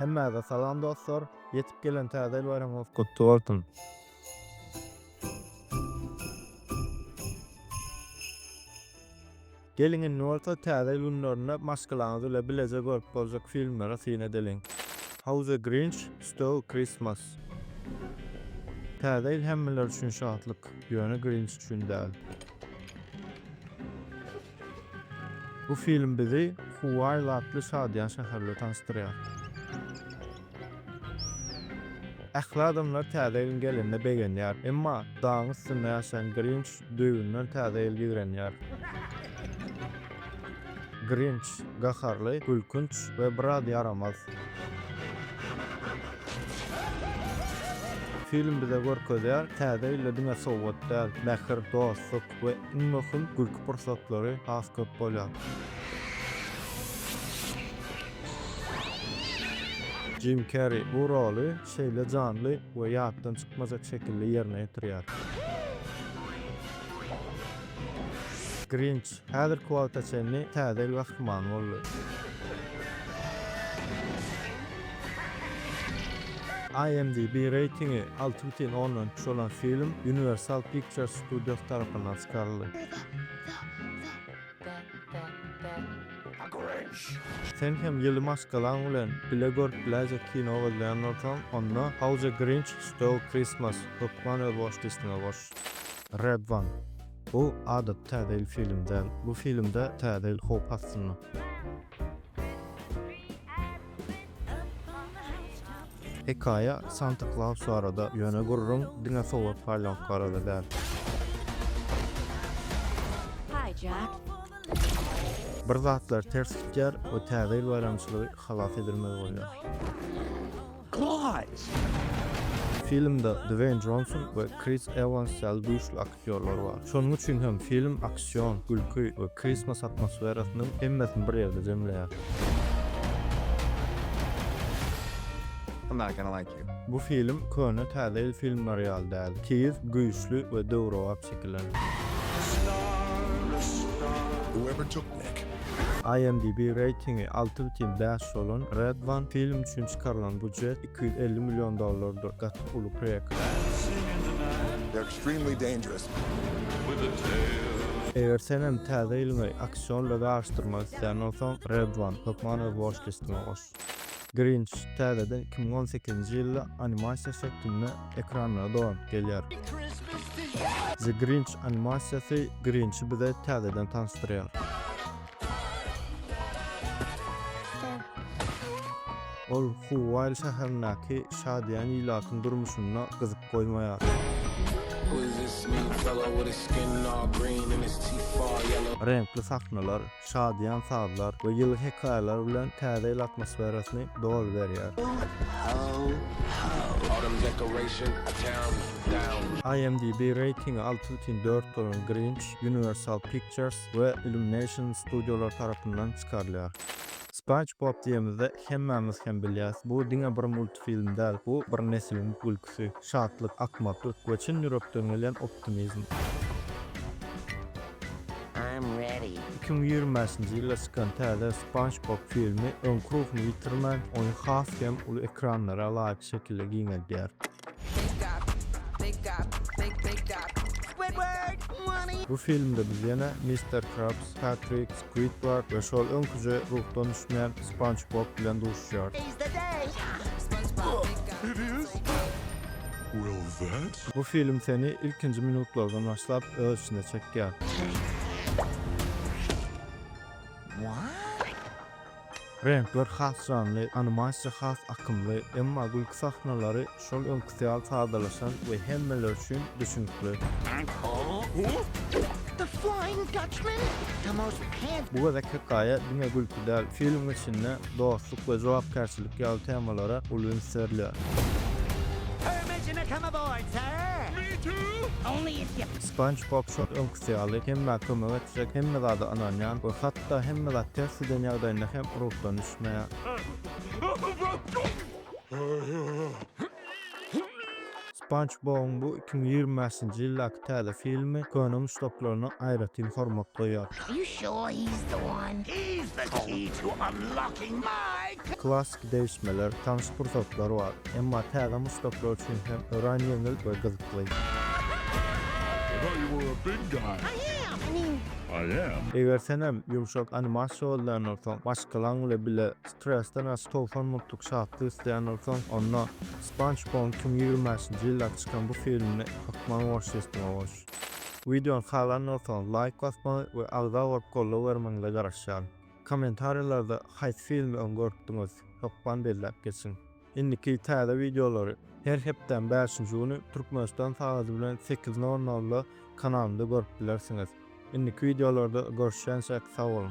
Hemmäze salam dostlar! Ýetip gelen Täze ýyl baýramyňyz gutly bolsun! Geliň indi bolsa Täze ýyl günlerinde maşgalaňyz bile bileje görüp boljak filmlere syn edeliň. How the Grinch Stole Christmas Täze ýyl hemmeler üçin şatlyk, ýöne Grinch üçin däl. Bu film bizi Huaýl atly şadyýan şäherde tanyşdyrýar. Ähli adamlar Täze ýylyň gelenine begenýär, emma dagyň üstünde ýaşaýan Grinç düýbünden Täze ýyl ýigrenýär. Grinç, gaharly, gülkünç we biraz ýaramaz. Film bize görkezýär, Täze ýylda diňe sowgat däl, mähir, dostluk, we iň möhüm gülki pursatlary has köp bolýar. Jim Kerri bu roly şeýle janly we ýatdan çykmajak şekilde ýerine ýetirýär. Grinç häzirki wagta çenli täze il gahrymany boldy. IMDb reýtingi alty bütin ondan üç bolan film Universal Pictures Studios tarapyndan çykaryldy. Sen hem ýyly maşgalaň bilen bile görüp biläýjek kino gözleýän bolsaň, onda How the Grinch Stole Christmas hökman öz watchlist-iňe goş. Red One. Bu adaty Täze ýyl filmi däl. Bu filmde Täze ýyl howp astynda. Hekaýa Santa Klaus barada, ýöne gürrüň diňe sowat paýlamak barada däl. Bir zatlar ters gitýär we Täze ýyl baýramçylygy halas edilmeli bolýar. Filmde Dweýn Jonson we Kris Ewans ýaly güýçli aktýorlar. ýollary bar. Şonuň üçin hem film aksion, gülki we Christmas atmosferasynyň hemmesini bir ýerde jemleýär. I'm not gonna like you. Bu film köne täze ýyl filmleri ýaly däl. Tiz, güýçli we döwrebap çekilen. Whoever took Nick. IMDb reýtingi alty bütin bäş bolan Red One film üçin çykarylan bujet iki ýüz elli million dollardyr, gaty uly preýekt. Extremely dangerous. Eger senem Täze ýylyňy aksionda garyşdyrmak isleýän bolsaň, Red One hökman öz watch listiňe goş. Grinch täzeden iki müň on sekizinji ýylda animasiýa şeklinde ekranlara dolanyp gelýär. The Grinch animasiýasy Grinçi bize täzeden tanyşdyrýar. Ol Huwaýl şäherindäki şadyýan ilatyň durmuşyna gyzyp goýmaýar. Reňkli sahnalar, şadyýan sazlar we ýyly hekaýalar bilen täze ýyl atmosferasyny doly berýär. IMDb reýtingi alty bütin dört bolan Grinch Universal Pictures we Illumination studiolary tarapyndan çykarylýar. Spanç Bob diýemizde hemmämiz hem bilýäs, bu diňe bir multfilm däl, bu bir nesliň gülküsi, şatlyk, akmaklyk we çyn ýürekden gelýän optimizm. Iki müň ýigrimi bäşinji ýylda çykan täze Spanç Bob filmi öňki ruhuny ýitirmän, oýny has hem uly ekranlara laýyk şekilde giňeldýär. Bu filmde biz ýene Mister Krabs, Patrik, Squidward we şol öňküje ruhdan düşmän Sponge Bob bilen duşuşýarys. Bu film seni ilkinji minutlardan başlap öz içine çekýär. Reňkler has janly, animasiýa has akymly, emma gülki sahnalary şol öňküsi ýaly sadalaşan we hemmeler üçin düşnükli. Bu gezek hekaýa diňe gülki däl, filmiň içinde dostluk we jogapkärçilik ýaly temalara uly üns berilýär. Sponge Bob şol öňküsi ýaly hemmä kömek etjek, hemme zada ynanýan we hat Hatda hemme zat ters giden ýagdaýynda hem ruhdan düşmeýär. Spanç Bobuň bu iki müň ýigrimi bäşinji ýyldaky täze filmi köne muşdaklaryna aýratyn hormat goýýar. Klassyky degişmeler, tanyş pursatlar bar, emma täze muşdaklar üçin hem örän ýeňil we gyzykly. Eger senem ýumşak animasiýa bolýan bolsaň, maşgalaň bile bile stresden aç togsan muntlyk şatlyk isleýän bolsaň, onda SpongeBob-yň iki müň ýigrimi bäşinji ýylda çykan bu filmini ykmaň watchlist-iňe goş. Wideony halan bolsaňyz laýk basmagy we agza bolup goldaw bermegiňize garaşýaryn. Kommentariýalarda haýsy filmi öň görüpdiňiz? Hökman belläp geçiň. Indiki täze wideolary her hepdäň bäşinji güni Türkmenistan sagaty bilen sekiz nol nolda kanalymda görüp bilersiňiz. Indiki wideolarda görüşýänçäk sag boluň.